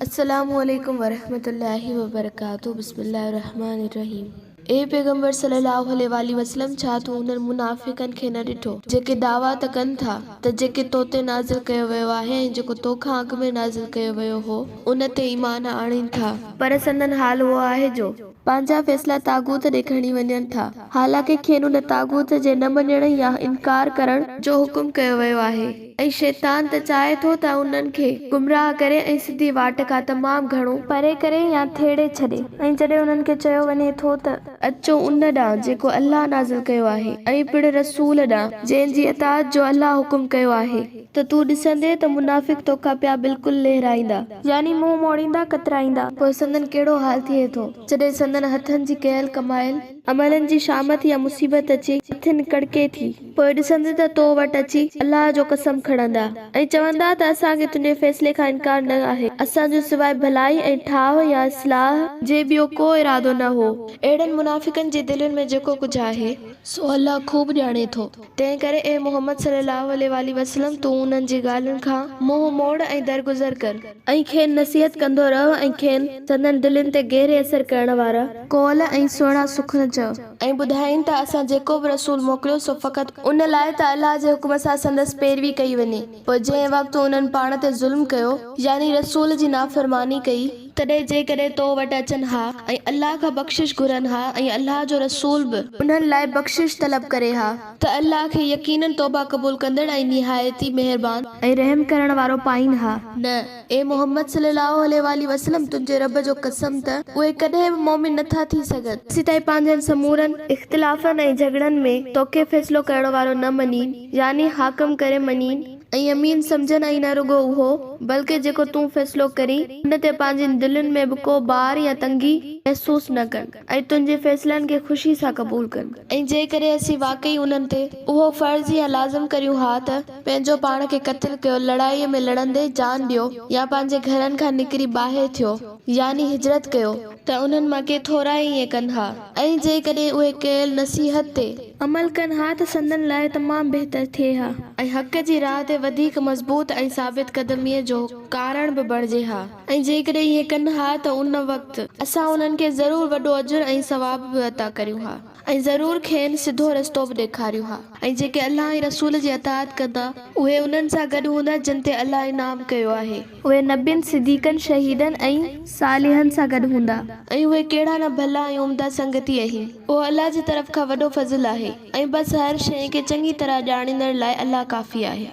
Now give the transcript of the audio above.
السلام عليڪم ورحمة الله وبرڪاته بسم الله الرحمٰن الرحيم اي پيغمبر صلي الله عليه واٰله وسلم ڇا تو انهن منافقن کي نه ڏٺو جيڪي دعويٰ ته ڪن ٿا ته جيڪي تو تي نازل ڪيو ويو آهي ۽ جيڪو تو کان اڳ ۾ نازل ڪيو ويو هو ان تي ايمان آڻين ٿا پر سندن حال اهو آهي جو پنهنجا فيصلا طاغوت ڏي کڻي وڃن ٿا حالانڪه کين ان طاغوت جي نه مڃڻ يا انڪار ڪرڻ جو حڪم ڪيو ويو آهي. ۽ شيطان ته چاهي ٿو ته انهن کي گمراهه ڪري ۽ سڌي واٽ کان تمام گهڻو. پري ڪري يا ٿيڙي ڇڏي. ۽ جڏهن انهن کي چيو وڃي ٿو ته. اچو ان ڏانهن جيڪو الله نازل ڪيو آهي ۽ پڻ رسول ڏانهن جنهن جي اطاعت جو الله حڪم ڪيو آهي. ته تون ڏسندين ته منافق توکان پيا بلڪل لهرائيندا. يعني منهن موڙيندا، ڪترائيندا. پوء سندن ڪهڙو حال ٿئي ٿو. جڏهن سندن هٿن جي ڪيل ڪمايل. امڙن جي شامت يا مصيبت اچي، مٿن ڪڙڪي ٿي. پوء ڏسندين ته تو وٽ اچي، الله جو قسم کڻندا، ۽ چوندا ته اسان کي تنهنجي فيصلي کان انڪار نه آهي، اسان جو سواء ڀلائي ۽ ٺاهه يا اصلاح، جي ٻيو ڪو ارادو نه هو. اهڙن منافقن جي دلين ۾ جيڪو ڪجهه آهي. سو الله خوب ڄاڻي ٿو. تنهن ڪري اي محمد صلّي اللّٰه عليه واٰله وسلّم تون انهن جي ڳالهين کان منهن موڙ ۽ درگذر ڪر. ۽ کين نصيحت ڪندو رهه ۽ کين سندن دلين تي گهري اثر ڪرڻ وارا قول ۽ سهڻا سخن چئه. ۽ ٻڌائين ته اسان جيڪو به رسول موڪليو سو فقط. ان لاء ته الله جي حڪم سان سندس پيروي ڪئي وڃي. پوء جنهن وقت انهن پاڻ تي ظلم ڪيو، يعني رسول جي نافرماني ڪئي، تڏهن جيڪڏهن تو وٽ اچن ها ۽ الله کان بخشش گهرن ها ۽ الله جو رسول به انهن لاء بخشش طلب ڪري ها، ته الله کي يقيناً توبه قبول ڪندڙ ۽ نهايت ئي مهربان. ۽ رحم ڪرڻ وارو پائين ها. نه، اي محمد صلي الله عليه واٰله وسلم، تنهنجي رب جو قسم ته اهي ڪڏهن به مؤمن نه ٿا ٿي سگهن. سيتائين پنهنجن سمورن اختلافن ۽ جهڳڙن ۾ توکي فيصلو ڪرڻ وارو نه مڃين. يعني حاڪم ڪري مڃين ۽ امين سمجهن ۽ نه رڳو اهو بلڪه جيڪو تون فيصلو ڪرين ان تي پنهنجين دلين ۾ به ڪو بار يا تنگي محسوس نه ڪن ۽ تنهنجي فيصلن کي خوشي سان قبول ڪن. ۽ جيڪڏهن اسين واقعي انهن تي اهو فرض يا لازم ڪريون ها ته پنهنجو پاڻ کي قتل ڪيو، لڙائيء ۾ لڙندي جان ڏيو يا پنهنجي گهرن کان نڪري ٻاهر ٿيو يعني هجرت ڪيو، ته انهن مان ڪي ٿورا ئي ائين ڪن ها. ۽ جيڪڏهن اهي ڪيل نصيحت تي. عمل ڪن ها ته سندن لاء تمام بهتر ٿئي ها. ۽ حق جي راهه تي وڌيڪ مضبوط ۽ ثابت قدميء جو ڪارڻ به بڻجي ها. ۽ جيڪڏهن ائين ڪن ها ته ان وقت. اسان انهن کي ضرور وڏو اجر ۽ ثواب به عطا ڪريون ها. ۽ ضرور کين سڌو رستو به ڏيکاريون ها. ۽ جيڪي الله ۽ رسول جي اطاعت ڪندا. اهي انهن سان گڏ هوندا جن تي الله انعام ڪيو آهي. اهي نبين، صديقن، شهيدن ۽. صالحن سان گڏ هوندا. ۽ اهي ڪهڙا نه ڀلا ۽ عمدا سنگتي اهين. اهو الله جي طرف کان وڏو فضل آهي. ۽ بس هر شيء کي چڱي طرح ڄاڻيندڙ لاء الله ڪافي آهي.